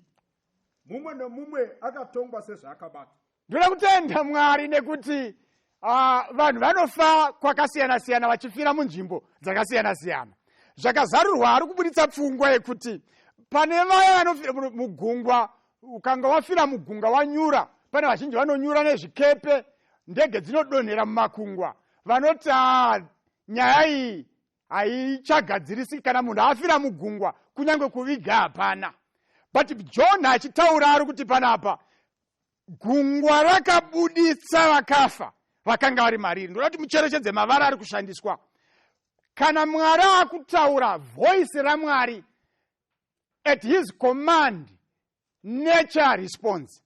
mumwe nomumwe akatongwa sezvaakabata Ndoda kutenda Mwari nekuti uh, vanhu vanofa kwakasiyana siyana vachifira munzvimbo dzakasiyana siyana. Zvakazarurwa ari kuburitsa pfungwa yekuti pane vaya vanofira mugungwa, ukanga wafira mugunga wanyura, pane vazhinji vanonyura nezvikepe, ndege dzinodonhera mumakungwa, vanoti ah, nyaya iyi haichagadzirisi kana munhu afira mugungwa kunyange kuviga hapana but john achitaura ari kuti panapa gungwa rakabuditsa vakafa vakanga vari mariri ndoda kuti mucherechedze mavara ari kushandiswa kana mwari akutaura voice ramwari at his command nature response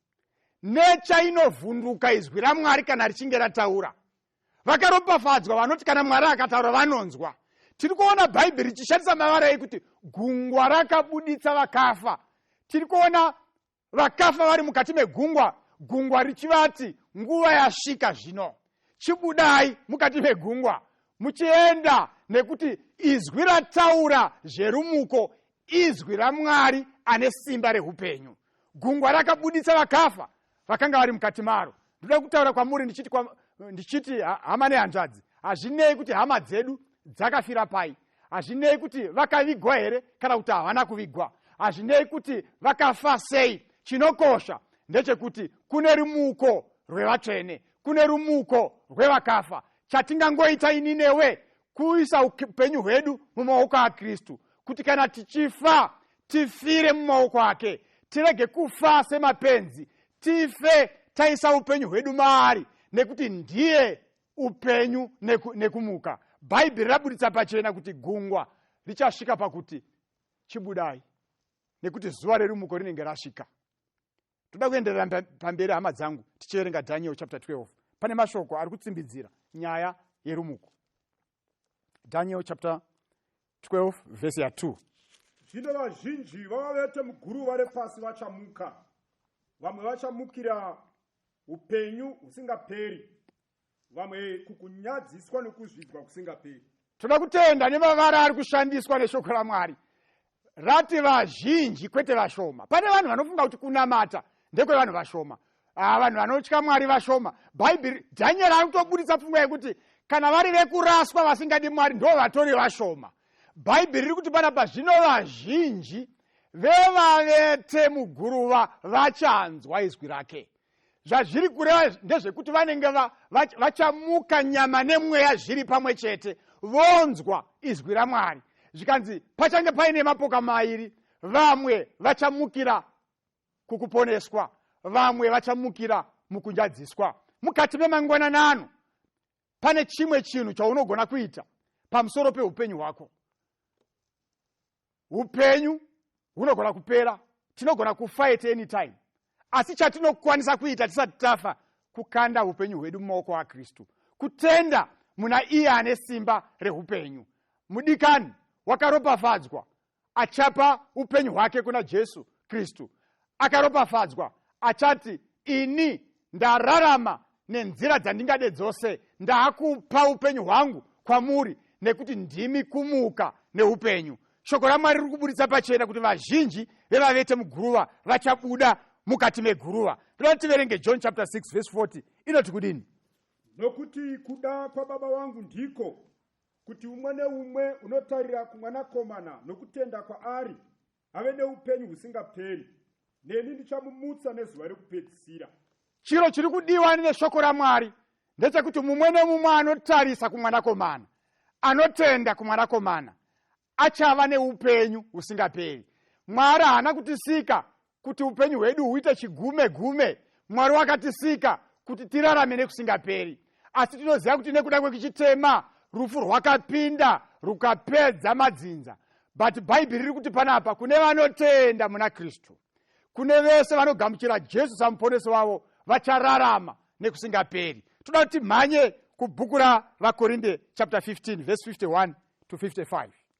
nature inovhunduka izwi ramwari kana richinge rataura vakaropafadzwa vanoti kana mwari akataura vanonzwa tiri kuona bhaibheri richishandisa mavara ekuti gungwa rakabuditsa vakafa tiri kuona vakafa vari mukati megungwa gungwa richivati nguva yasvika zvino chibudai mukati megungwa muchienda nekuti izwi rataura zverumuko izwi ramwari ane simba reupenyu gungwa rakabuditsa vakafa vakanga vari mukati maro ndoda kutaura kwamuri ndichiti kwa, ndichiti hama nehanzvadzi hazvinei kuti hama dzedu dzakafira pai hazvinei kuti vakavigwa here kana kuti havana kuvigwa hazvinei kuti vakafa sei chinokosha ndechekuti kune rumuko rwevatsvene kune rumuko rwevakafa chatingangoita ini newe kuisa upenyu hwedu mumaoko akristu kuti kana tichifa tifire mumaoko ake tirege kufa semapenzi tife taisa upenyu hwedu maari nekuti ndiye upenyu neku, nekumuka bhaibheri raburitsa pachena kuti gungwa richasvika pakuti chibudai nekuti zuva rerumuko rinenge rasvika toda kuenderera pamberi hama dzangu tichierenga daniel chapter 12 pane mashoko ari kutsimbidzira nyaya yerumuko daniel chapter 12 vhesi ya 2 zvino vazhinji vavavete muguruva repasi vachamuka vamwe vachamukira upenyu husingaperi vamwe kukunyadziswa nokuzvidzwa kusingaperi toda kutenda nemavara ari kushandiswa neshoko ramwari rati vazhinji kwete vashoma pane vanhu vanofunga kuti kunamata ndekwevanhu vashoma ah, vanhu vanotya mwari vashoma bhaibheri dhanyeri ari kutoburitsa pfungwa yekuti kana vari vekuraswa vasingadi mwari ndo vatori vashoma bhaibheri riri kuti pana pazvino vazhinji vevavete muguruva vachanzwa izwi rake zvazviri kureva ndezvekuti vanenge vachamuka va, va nyama nemweya zviri pamwe chete vonzwa izwi ramwari zvikanzi pachange paine mapoka mairi vamwe vachamukira kukuponeswa vamwe vachamukira mukunjadziswa mukati memangwananano pane chimwe chinhu chaunogona kuita pamusoro peupenyu hwako upenyu hunogona kupera tinogona kufa at any time asi chatinokwanisa kuita tisati tafa kukanda upenyu hwedu mumaoko akristu kutenda muna iye ane simba reupenyu mudikani wakaropafadzwa achapa upenyu hwake kuna jesu kristu Akaropafadzwa achati, Ini ndararama nenzira dzandingade dzose, ndaakupa upenyu hwangu kwamuri, nekuti ndimi kumuka neupenyu. Shoko raMwari riri kuburitsa pachena kuti vazhinji vevavete muguruva vachabuda mukati meguruva. Toda kuti tiverenge John chapter 6 verse 40 inoti kudini? Nokuti kuda kwaBaba wangu ndiko kuti umwe neumwe unotarira kumwanakomana nokutenda kwaari ave neupenyu husingaperi neni ndichamumutsa nezuva rekupedzisira chiro chiri kudiwa neshoko ramwari ndechekuti mumwe nemumwe anotarisa kumwanakomana anotenda kumwanakomana achava neupenyu husingaperi mwari haana kutisika kuti upenyu hwedu huite chigume gume mwari wakatisika kuti tirarame nekusingaperi asi tinoziva kuti nekuda kwekuchitema rufu rwakapinda rukapedza madzinza but bhaibheri riri kuti panapa kune vanotenda muna kristu kune vese vanogamuchira jesu samuponesi wavo vachararama nekusingaperi toda kuti mhanye kubhuku ravakorinde chapter 15 vese 51 to 55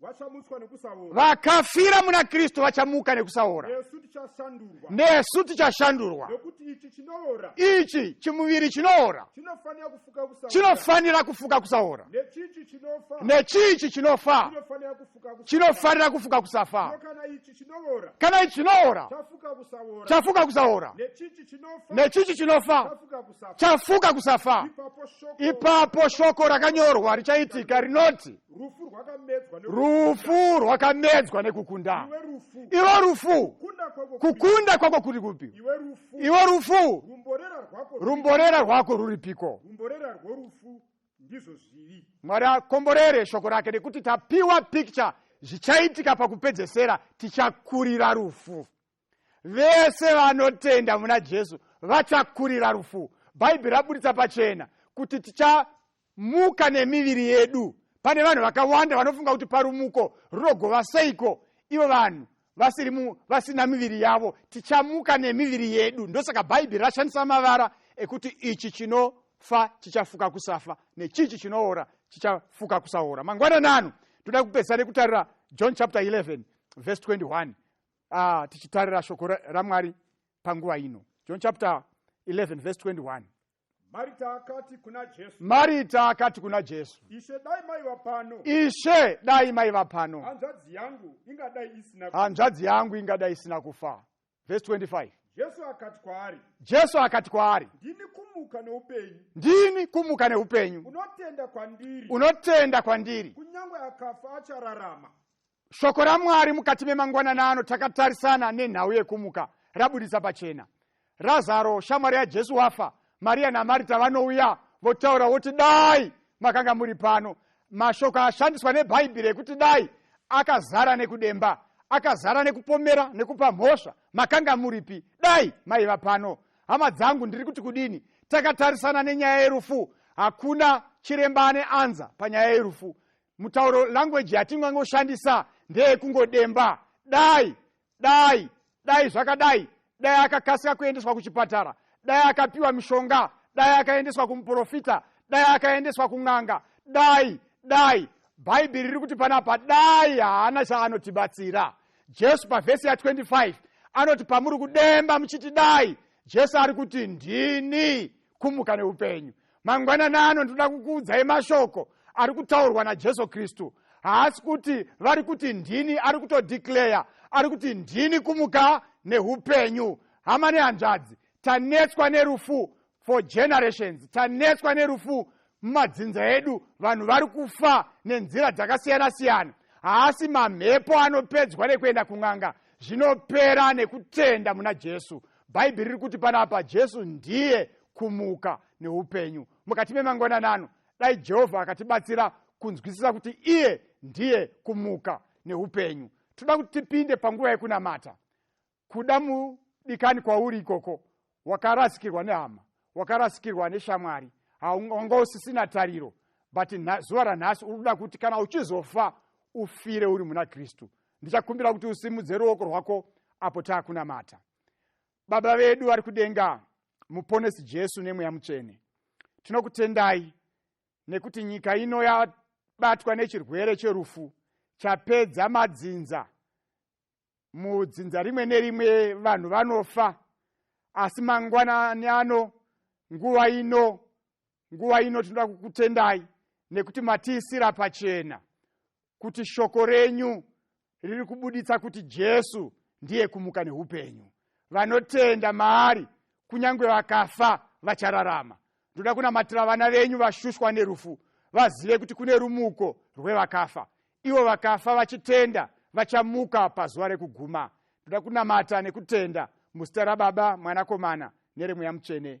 vachamutswa nekusaora vakafira muna kristu vachamuka nekusaora nesu tichashandurwa nesu tichashandurwa nekuti ichi chinoora ichi chimuviri chinoora chinofanira kufuka kusaora chinofanira kufuka kusaora nechichi chinofa nechichi chinofa chinofanira kufuka kusaora chinofanira kufuka kusafa Zvino kana ichi chinoora kana ichi chinoora chafuka kusaora chafuka kusaora nechichi chinofa nechichi chinofa chafuka kusafa chafuka kusafa ipapo shoko ipapo shoko rakanyorwa richaitika rinoti rufu rwakamedzwa ne- rufu rwakamedzwa nekukunda iwe rufu iwe rufu kunda kwako kuri- kukunda kwako kuri kupi iwe rufu iwe rufu rumborera rwako rumborera rwako ruripiko rumborera rworufu ndizvo zviri mwari akomborere shoko rake nekuti tapiwa picture zvichaitika pakupedzesera tichakurira rufu vese vanotenda muna jesu vachakurira rufu bhaibheri raburitsa pachena kuti tichamuka nemiviri yedu pane vanhu vakawanda vanofunga kuti parumuko runogova seiko ivo vanhu vasiri vasina miviri yavo tichamuka nemiviri yedu ndosaka bhaibheri rashandisa mavara ekuti ichi chinofa chichafuka kusafa nechichi chinoora chichafuka kusaora mangwananano toda kupedzisa nekutarira john chapter 11 verse 21 uh, tichitarira shoko ramwari panguva ino john chapter 11 verse 21 marita akati kuna jesu marita akati kuna jesu ishe dai maiva pano ishe dai maiva pano hanzvadzi yangu ingadai isina hanzvadzi yangu ingadai isina kufa verse 25 jesu akati kwaari jesu akati kwaari ndini kumuka neupenyu ndini kumuka neupenyu unotenda kwandiri unotenda kwandiri kunyange akafa achararama Shoko raMwari mukati memangwanana ano takatarisana nenhau yekumuka rabudisa pachena. Razaro, shamwari yaJesu wafa, Mariya naMarita vanouya votaura voti dai makanga muri pano. Mashoko ashandiswa neBhaibheri ekuti dai akazara nekudemba, akazara nekupomera, nekupa mhosva. Makanga muripi dai maiva pano? Hama dzangu, ndiri kuti kudini? Takatarisana nenyaya yerufu. Hakuna chiremba ane anza panyaya yerufu. mutauro language yatingangoshandisa ndeyekungodemba dai dai dai zvakadai dai akakasika kuendeswa kuchipatara dai akapiwa mishonga dai akaendeswa kumuprofita dai akaendeswa kun'anga dai dai bhaibheri riri kuti panapa dai haana chaanotibatsira jesu pavhesi ya25 anoti pamuri kudemba muchiti dai jesu ari kuti ndini kumuka neupenyu mangwanani ano ndinoda kukuudzai mashoko ari kutaurwa najesu kristu haasi kuti vari kuti ndini ari kutodeclare ari kuti ndini kumuka neupenyu hama nehanzvadzi tanetswa nerufu for generations tanetswa nerufu mumadzinza edu vanhu vari kufa nenzira dzakasiyana siyana haasi mamhepo anopedzwa nekuenda kun'anga zvinopera nekutenda muna jesu bhaibheri riri kuti panapa jesu ndiye kumuka neupenyu mukati memangwanani ano dai jehovha akatibatsira kunzwisisa kuti iye ndiye kumuka neupenyu toda kuti tipinde panguva yekunamata kuda mudikani kwauri ikoko wakarasikirwa nehama wakarasikirwa neshamwari wanga usisina tariro but zuva ranhasi uri kuda kuti kana uchizofa ufire uri muna kristu ndichakumbira kuti usimudze ruoko rwako apo taakunamata baba vedu vari kudenga muponesi jesu nemweya mutsvene tinokutendai nekuti nyika ino yabatwa nechirwere cherufu chapedza madzinza mudzinza rimwe nerimwe vanhu vanofa asi mangwanani ano nguva ino nguva ino tinoda kukutendai nekuti matiisira pachena kuti shoko renyu riri kubuditsa kuti jesu ndiye kumuka neupenyu vanotenda maari kunyange vakafa vachararama ndoda kunamatira vana venyu vashushwa nerufu vazive kuti kune rumuko rwevakafa ivo vakafa vachitenda vachamuka pazuva rekuguma ndoda kunamata nekutenda muzita rababa mwanakomana neremweya mutsvene